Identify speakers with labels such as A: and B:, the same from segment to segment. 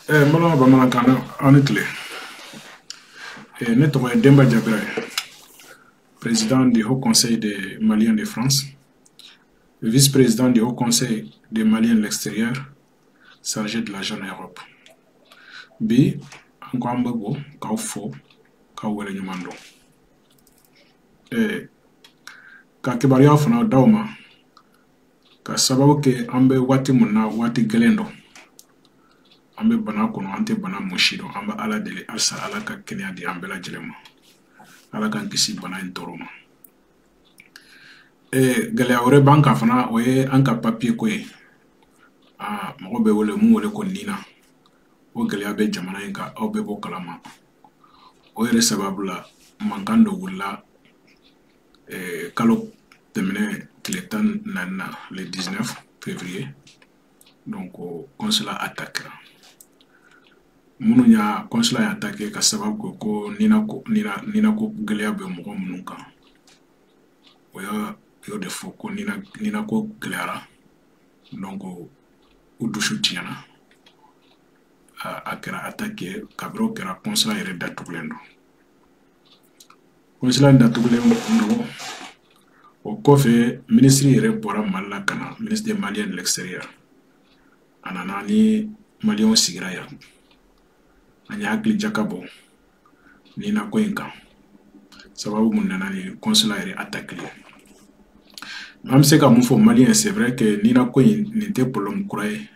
A: Eh, n balima bamanankan na aw ni tile eh, ne tɔgɔ ye denba jabira ye président du haut conseil des maliens de france vice président du haut conseil des maliens de l'extérieur chargé de la zone europe bi an ko an bɛ bɔ k'aw fo k'aw waleɲuman dɔn eh, ka kibaruya fana d'aw ma ka sababu kɛ an bɛ waati mun na waati gɛlɛn don an bɛ bana kɔnɔ an tɛ bana mun si dɔn an bɛ ala deli halisa ala ka kɛnɛya di an bɛɛ lajɛlen ma ala k'an kisi bana in tɔɔrɔ ma ee gɛlɛya wɛrɛ b'an kan fana o ye an ka papiye ko ye aa mɔgɔ bɛ wele mun wele ko nina o gɛlɛya bɛ jamana in kan aw bɛɛ b'o kalama o yɛrɛ sababu la mankan dɔ wulila eh, kalo tɛmɛnen tile tan naani na le 19 février donc consulat attaquéra minnu y'a consulat y'a attaqué ka sababu kɛ ko nina ko gɛlɛya bɛ mɔgɔ minnu kan u y'o de fɔ ko nina ko gɛlɛyara donc u dusu tiɲɛna a kɛra attaque ye kabiri o kɛra consulat yɛrɛ datugulen don kɔnsila datugulen don o kɔfɛ minisiri yɛrɛ bɔra mali la ka na ministre des maliens de l'extérieur a nana ni maliyɛnw sigira yan an y'an hakili jakabɔ nina ko in kan sababu mun nana ni kɔnsila yɛrɛ atakili ye an bɛ se ka mun fɔ maliyɛn c'est vrai que nina ko in nin tɛ problème kura ye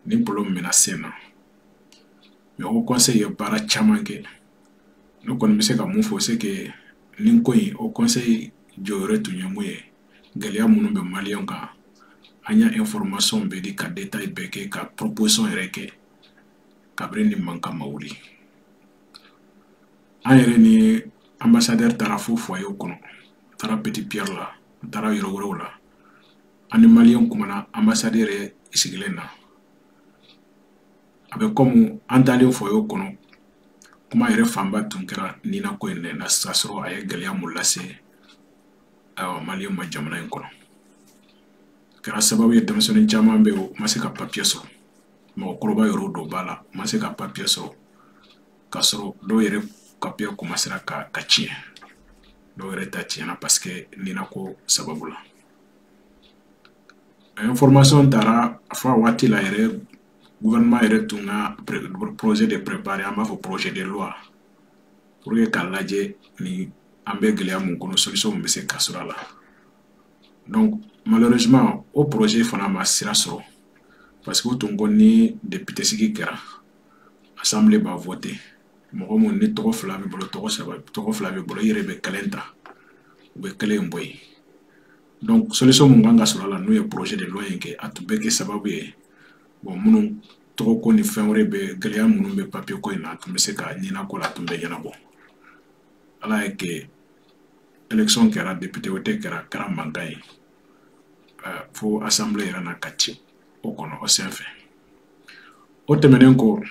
A: nin problème mɛnna sen na mais haut conseil ye baara caman kɛ ne kɔni bɛ se ka mun fɔ c'est que nin ko in haut conseil jɔyɔrɔ tun ye mun ye gɛlɛya minnu bɛ maliyɛnw kan an y'a information bɛɛ di ka détail bɛɛ kɛ ka proposition yɛrɛ kɛ kabiri nin mankan ma wuli an yɛrɛ ni ambassadeur taara fo foyer kɔnɔ a taara petit pierre la a taara yɔrɔ wɛrɛw la an ni maliyɛnw kumana ambassadeur yɛrɛ sigilen na a bɛ kɔmi an taalen foyer kɔnɔ kuma yɛrɛ fanba tun kɛra nina ko in de na k'a sɔrɔ a ye gɛlɛya mun lase maliyɛnw ma jamana in kɔnɔ kɛra sababu ye denmisɛnnin caman bɛ yen u ma se ka papiye sɔrɔ mɔgɔkɔrɔba yɛrɛw dɔ b'a la u ma se ka papiye sɔrɔ k'a sɔrɔ dɔw yɛrɛ papiye komasera ka ka tiɲɛ dɔw yɛrɛ ta tiɲɛna paseke nina ko sababu la a ye taara a fɔ a waati la yɛrɛ gouvernement yɛrɛ tun ka projet de préparé an b'a fɔ projet de loi pour que k'a lajɛ ni an bɛ gɛlɛya mun kɔnɔ solution mun bɛ se ka sɔrɔ a la donc malheureusement o projet fana ma sira sɔrɔ parce que u tun ko ni député sigi kɛra assemblée b'a voté mɔgɔ mun ni tɔgɔ fila b'i bolo tɔgɔ saba tɔgɔ fila b'i bolo i yɛrɛ bɛ kelen ta u bɛ kelen in bɔ yen donc solution mun kan ka sɔrɔ a la n'o ye projet de loi in kɛ a tun bɛ kɛ sababu ye bon minnu tɔgɔ ko ni fɛn wɛrɛ bɛ gɛlɛya minnu bɛ papier ko in na a tun bɛ se ka nina ko la a tun bɛ ɲɛnabɔ ala y'a kɛ élection kɛra député voté kɛra kɛra mankan ye fo assemblée yɛrɛ na ka ci o kɔnɔ o senfɛ o tɛmɛnen kɔ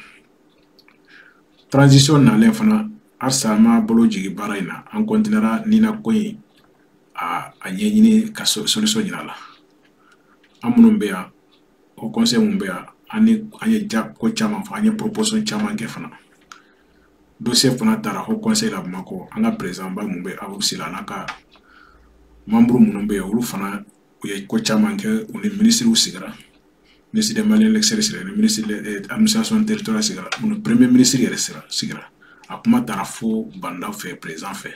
A: transition nalen fana halisa an ma bolo jigin baara in na an kɔntinera nina ko in a a ɲɛɲini ka solution ɲini a la an minnu bɛ yan haut conseil mun bɛ yan an ni an ye ja ko caman fɔ an ye proposition caman kɛ fana dossier fana taara haut conseil la bamakɔ an ka président ba mun bɛ habib sylla n'a ka membre minnu bɛ yen olu fana u ye ko caman kɛ u ni minisiriw sigira ministre des maliens de l'extérieur sigira ni ministre de eh, administration territoriale sigira u ni premier ministre yɛrɛ sigira a kuma taara fo bah n'daw fɛ président fɛ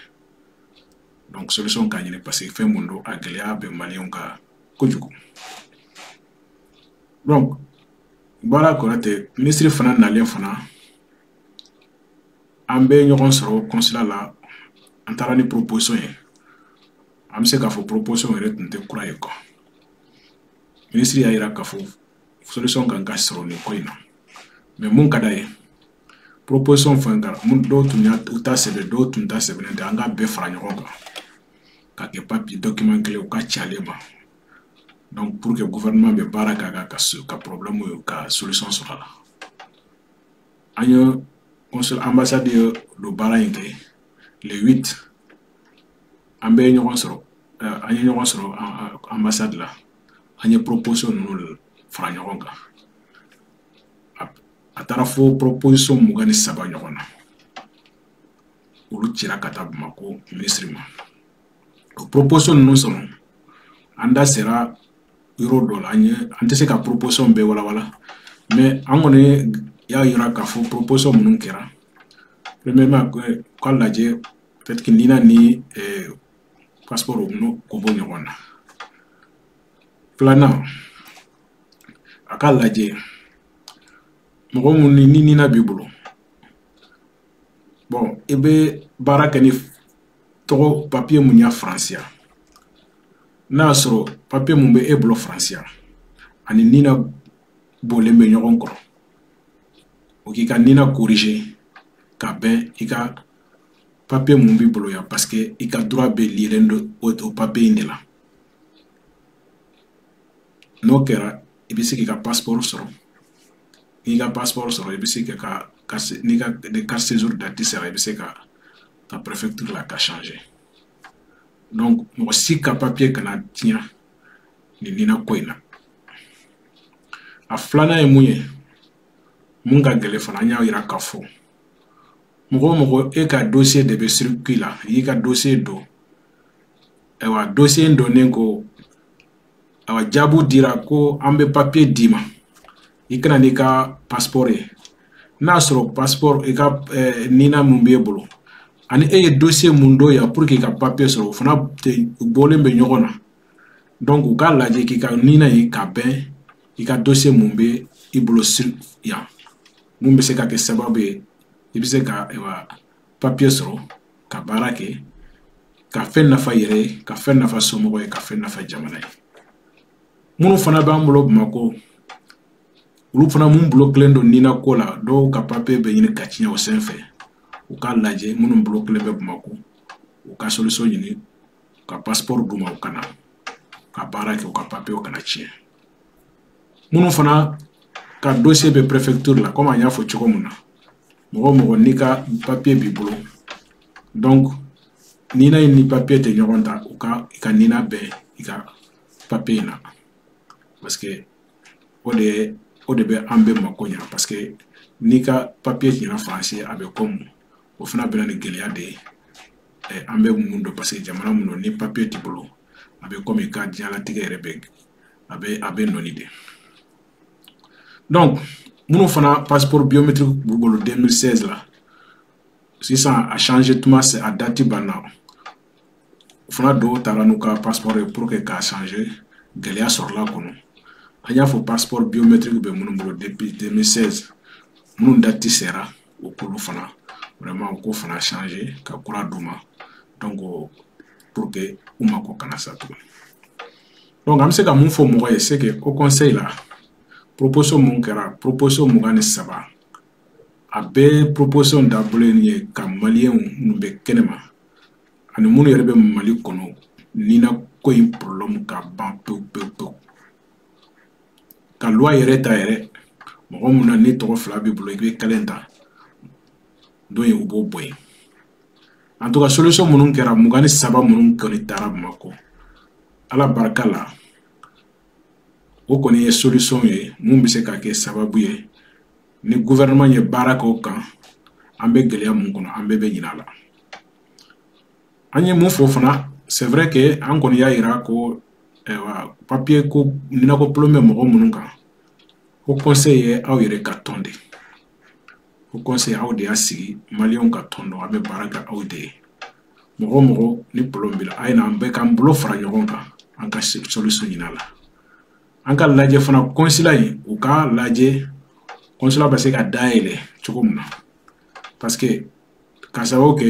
A: donc solution ka ɲini parce que fɛn mun don a gɛlɛya bɛ maliyɛnw kan kojugu donc baara kura tɛ minisiri fana nalen fana an bɛ ɲɔgɔn sɔrɔ kɔnsila la an taara ni proposition ye an bɛ se k'a fɔ proposition yɛrɛ tun tɛ kura ye quoi minisiri y'a yira k'a fɔ solution kan ka sɔrɔ nin ko in na mais mun ka d'a ye proposition fɛn kɛra mun dɔw tun y'u ta sɛbɛn dɔw tun ta sɛbɛnnen tɛ an k'a bɛɛ fara ɲɔgɔn kan ka kɛ papier document kelen u k'a ci ale ma donc pour que gouvernement bɛ baara k'a kan ka ka problème in ka solution sɔrɔ a la an ye consul ambassade ye don baara in kɛ le 8 an bɛɛ ye ɲɔgɔn sɔrɔ eh, an ye ɲɔgɔn sɔrɔ ambassade la an ye proposition ninnu fara ɲɔgɔn kan a taara fo proposition mugan ni saba ɲɔgɔn na olu cira ka taa bamakɔ minisiri ma o proposition ninnu sɔrɔ an da sera yɔrɔ dɔ la an ye an tɛ se ka proposition bɛɛ walawala mais an kɔni y'a yira k'a fɔ proposition minnu kɛra premièrement k'a lajɛ peut-être que nina ni eh, passeport ko bɔ ɲɔgɔn na filanan a k'a lajɛ mɔgɔ mun ni ni nina b'i bolo bɔn i bɛ baara kɛ ni tɔgɔ papiye mun ye faransi yan n'a y'a sɔrɔ papiye mun bɛ e bolo faransi yan ani nina bɔlen bɛ ɲɔgɔn kɔrɔ u k'i ka nina korije ka bɛn i ka papiye mun b'i bolo yan paseke i ka droit bɛ liyelen don o papiye in de la n'o kɛra i bɛ se k'i ka pasiporo sɔrɔ n'i ka pasiporo sɔrɔ i bɛ se ka ka n'i ka ni carte séjour date sera i bɛ se ka taa préfecture la ka changer donc mɔgɔ si ka papier kana tiɲɛ nin nina ko in na a filanan ye mun ye mun ka gɛlɛn fana an y'a yira k'a fɔ mɔgɔ o mɔgɔ e ka dossier de bɛ circuit la i y'i ka dossier don ayiwa dosiye in donnen ko ayiwa jaabu dira ko an bɛ papiye d'i ma i ka na n'i ka pasipɔrɔ ye n'a sɔrɔ pasipɔrɔ i ka eh, nina mun b'e bolo ani e ye dosiye mun don yan pour que i ka papiye sɔrɔ o fana bɔlen bɛ ɲɔgɔn na donc u k'a lajɛ k'i ka nina ye ka bɛn i ka dosiye mun bɛ i bolo yan mun bɛ se ka kɛ sababu ye i bɛ se ka ayiwa papiye sɔrɔ ka baara kɛ ka fɛn nafa yɛrɛ ye ka fɛn nafa somɔgɔ ye ka fɛn nafa jamana ye minnu fana b'an bolo bamakɔ olu fana minnu blokelen don nina ko la dɔw ka papiye bɛ ɲini ka tiɲɛ o sen fɛ u k'a lajɛ minnu blokelen bɛ bamakɔ u ka solution ɲini ka pasiporo d'u ma u ka na ka baara kɛ u ka papiyew kana tiɲɛ minnu fana ka dossier bɛ préfecture la komi an y'a fɔ cogo min na mɔgɔ o mɔgɔ n'i ka papiye b'i bolo donc nina in ni papiye tɛ ɲɔgɔn ta u ka i ka nina bɛn i ka papiye in na parce que o de o de bɛ an bɛɛ mako ɲa parce que n'i ka papiye tiɲɛna faransi a bɛ kɔmu o fana bɛ na ni gɛlɛya de ye eh, an bɛ mun dɔn parce que jamana mun don ni papiye t'i bolo a bɛ kɔmi i ka diɲɛlatigɛ yɛrɛ bɛ a bɛ a bɛ nɔɔni de donc minnu fana passeport biométrique b'u bolo 2016 la sisan a change tuma se a dati banna o fana dɔw taara n'u ka passeport ye pour que k'a change gɛlɛya sɔrɔla a kɔnɔ an y'a fɔ passeport biométrique bɛ minnu bolo depuis 2016 minnu dati sera u k'olu fana vraiment u k'o fana change ka kura d'u ma donc pour que u mako kana sa tuguni donc an bɛ se ka mun fɔ mɔgɔ ye c'est que haut conseil la proposition mun kɛra proposition mugan ni saba a bɛɛ proposition dabɔlen ye ka maliyɛnw minnu bɛ kɛnɛma ani minnu yɛrɛ bɛ mali kɔnɔ nina ko in problème ka ban pewu pewu pewu ka loi yɛrɛ ta yɛrɛ mɔgɔ mun na ni tɔgɔ fila b'i bolo i bɛ kelen ta don ye u b'o bɔ yen en tout cas solution minnu kɛra mugan ni saba minnu kɔni taara bamakɔ ala barika la o kɔni ye solution ye mun bɛ se ka kɛ sababu ye ni gouvernement ye baara kɛ o kan an bɛ gɛlɛya mun kɔnɔ an bɛɛ bɛ ɲinɛ a la an ye mun fɔ fana c'est vrai que an kɔni y'a yira ko ayiwa papiye ko nina ko problème bɛ mɔgɔ minnu kan haut conseil ye aw yɛrɛ ka tɔn de haut conseil aw de y'a sigi maliyɛnw ka tɔn don a bɛ baara kɛ aw de ye mɔgɔ o mɔgɔ ni problème b'i la a ye na an bɛɛ k'an bolo fara ɲɔgɔn kan an ka solution ɲini a la an k'a lajɛ fana consulat in u k'a lajɛ consulat bɛ se ka dayɛlɛ cogo min na parce que ka sababu kɛ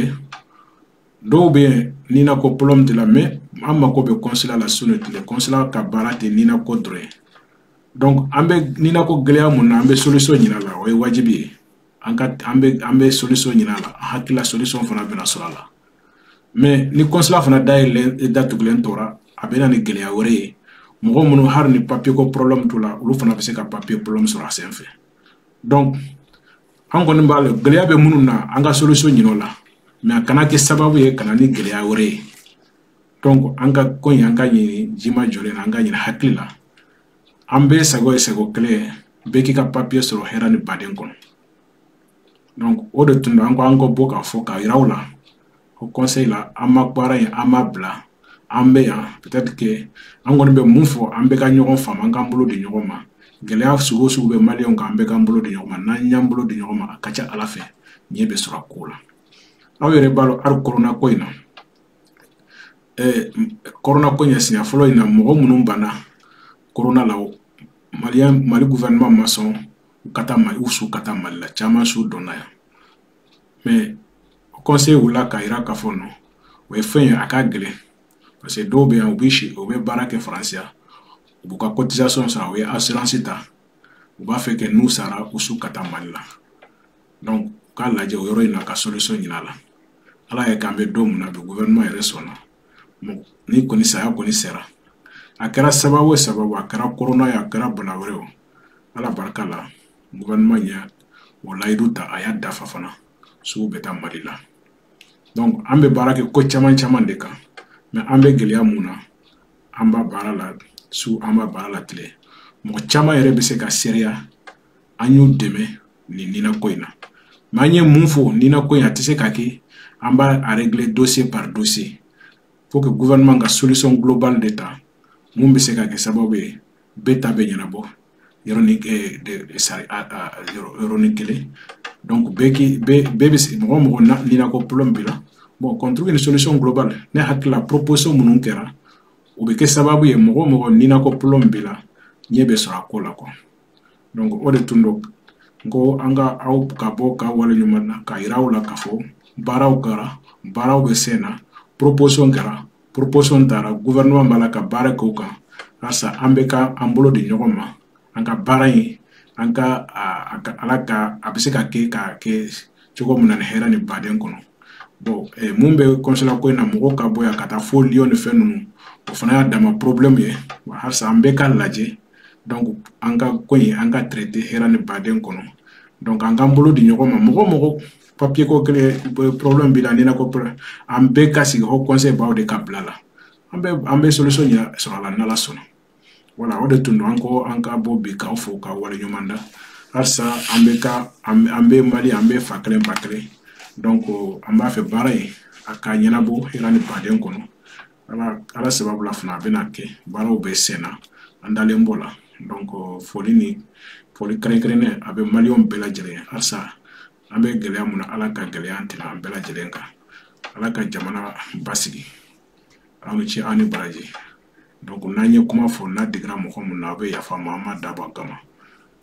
A: dɔw bɛ yen nina ko problème t'u la mais an mako bɛ consulat la su ni tile consulat ka baara tɛ nina ko dɔrɔn ye donc an bɛ nina ko gɛlɛya mun na an bɛ solution ɲinin a la o ye wajibi ye an ka an bɛ an bɛ solution ɲinin a la an hakili la solution fana bɛna sɔrɔ a la mais ni consulat fana dayɛlɛlen datugulen tora a bɛ na ni gɛlɛya wɛrɛ ye mɔgɔ minnu hali ni papier ko problème t'u la olu fana bɛ se ka papier problème sɔrɔ a senfɛ donc an kɔni b'a la gɛlɛya bɛ minnu na an ka solution ɲinin o la mais a kana kɛ sababu ye ka na ni gɛlɛya wɛrɛ ye donc an ka ko in an k'a ɲini jima jɔlen na an k'a ɲini hakili la an bɛɛ sago ye sago kelen ye bɛɛ k'i ka papiye sɔrɔ hɛrɛ ni baden kɔnɔ donc o de tun don an ko an ka bɔ k'a fɔ k'a yira aw la haut conseil la an ma baara in an m'a bila an bɛ yan peut-être que an kɔni bɛ mun fɔ an bɛɛ ka ɲɔgɔn faamu an k'an bolo di ɲɔgɔn ma gɛlɛya sugu o sugu bɛ maliyɛnw kan an bɛɛ k'an bolo di ɲɔgɔn ma n'an y'an bolo di ɲɔgɔn ma a ka ca ala fɛ ɲɛ bɛ sɔrɔ a ko la aw yɛrɛ b'a dɔn hali korona ko in na kɔrɔna ko ɲɛ siɲɛ fɔlɔ in na mɔgɔ minnu banna kɔrɔna la o mali mali gouvernement ma sɔn u ka taa mali u su ka taa mali la caman su donna yan mais conseil wulila k'a yira k'a fɔ non o ye fɛn ye a ka gɛlɛn parce que dɔw bɛ yan u bɛ si u bɛ baara kɛ faransi yan u b'u ka cotisation sara u ye assurance ta u b'a fɛ que n'u sara u su ka taa mali la donc u k'a lajɛ o yɔrɔ in na ka solution ɲin'a la ala y'a k'an bɛ don min na bi gouvernement yɛrɛ sɔnna ni kɔni saya kɔni sera a kɛra sababu o sababu a kɛra korona ye a kɛra bana wɛrɛ o ala barika la gouvernement ye o layidu ta a y'a dafa fana su bɛ taa mali la donc an bɛ baara kɛ ko caman caman de kan mais an bɛ gɛlɛya mun na an bɛ baara la su an bɛ baara la tile mɔgɔ caman yɛrɛ bɛ se k'a seereya an y'u dɛmɛ nin nina ko in na mais an ye mun fɔ nina ko in a tɛ se ka kɛ an b'a régler dossier par dossier faut que gouvernement ka solution globale de ta mun bɛ se ka kɛ sababu ye bɛɛ ta bɛ ɲɛnabɔ yɔrɔnin yɔrɔnin kelen donc bɛɛ k'i bɛɛ bɛɛ bɛ se mɔgɔ o mɔgɔ nina ko problème b'i la bon qu'on trouve une solution globale ne hakili la proposition minnu kɛra o bɛ kɛ sababu ye mɔgɔ o mɔgɔ nina ko problème b'i la ɲɛ bɛ sɔrɔ a ko la quoi donc o de tun don ko an ka aw ka bɔ ka wale ɲuman na k'a yira aw la k'a fɔ baaraw kɛra baaraw bɛ sen na proposition kɛra proposition taara gouvernement b'a la ka baara kɛ o kan halisa an bɛɛ ka an bolo di ɲɔgɔn ma an ka baara in an ka ala ka a bɛ se ka kɛ k'a kɛ cogo min na ni hɛrɛ ni baden kɔnɔ bon eh, mun bɛ consulat ko in na mɔgɔw ka bɔ yan ka taa fo lyon ni fɛn ninnu o fana y'a dama problème ye halisa an bɛɛ k'a lajɛ donc an ka ko in an ka traiter hɛrɛ ni baden kɔnɔ donc an k'an bolo di ɲɔgɔn ma mɔgɔ o mɔgɔ papier ko kelen euh, problème b'i la nina ko an bɛɛ ka sigi haut conseil b'aw de ka bila la an bɛ an bɛ solution sɔrɔ a la n'ala sɔnna voilà o de tun don an ko an ka bɔ bi k'aw fo k'aw wale ɲuman dɔn halisa an bɛ ka an bɛ mali an bɛɛ fa kelen ba kelen donc an b'a fɛ baara in a ka ɲɛnabɔ hɛrɛ ni baden kɔnɔ ala ala sababu la fana a bɛna kɛ baaraw bɛ sen na an dalen b'o la donc foli ni foli kɛrɛnkɛrɛnnen a bɛ maliyɛnw bɛɛ lajɛlen ye halisa an bɛ gɛlɛya mun na ala ka gɛlɛya tɛna an bɛɛ lajɛlen kan ala ka jamana basigi aw ni ce aw ni baraji donc n'an ye kuma fɔ n'a digira mɔgɔ mun na aw bɛ yafa an ma an m'a dabɔ a kama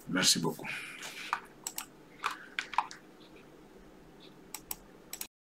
A: merci beaucoup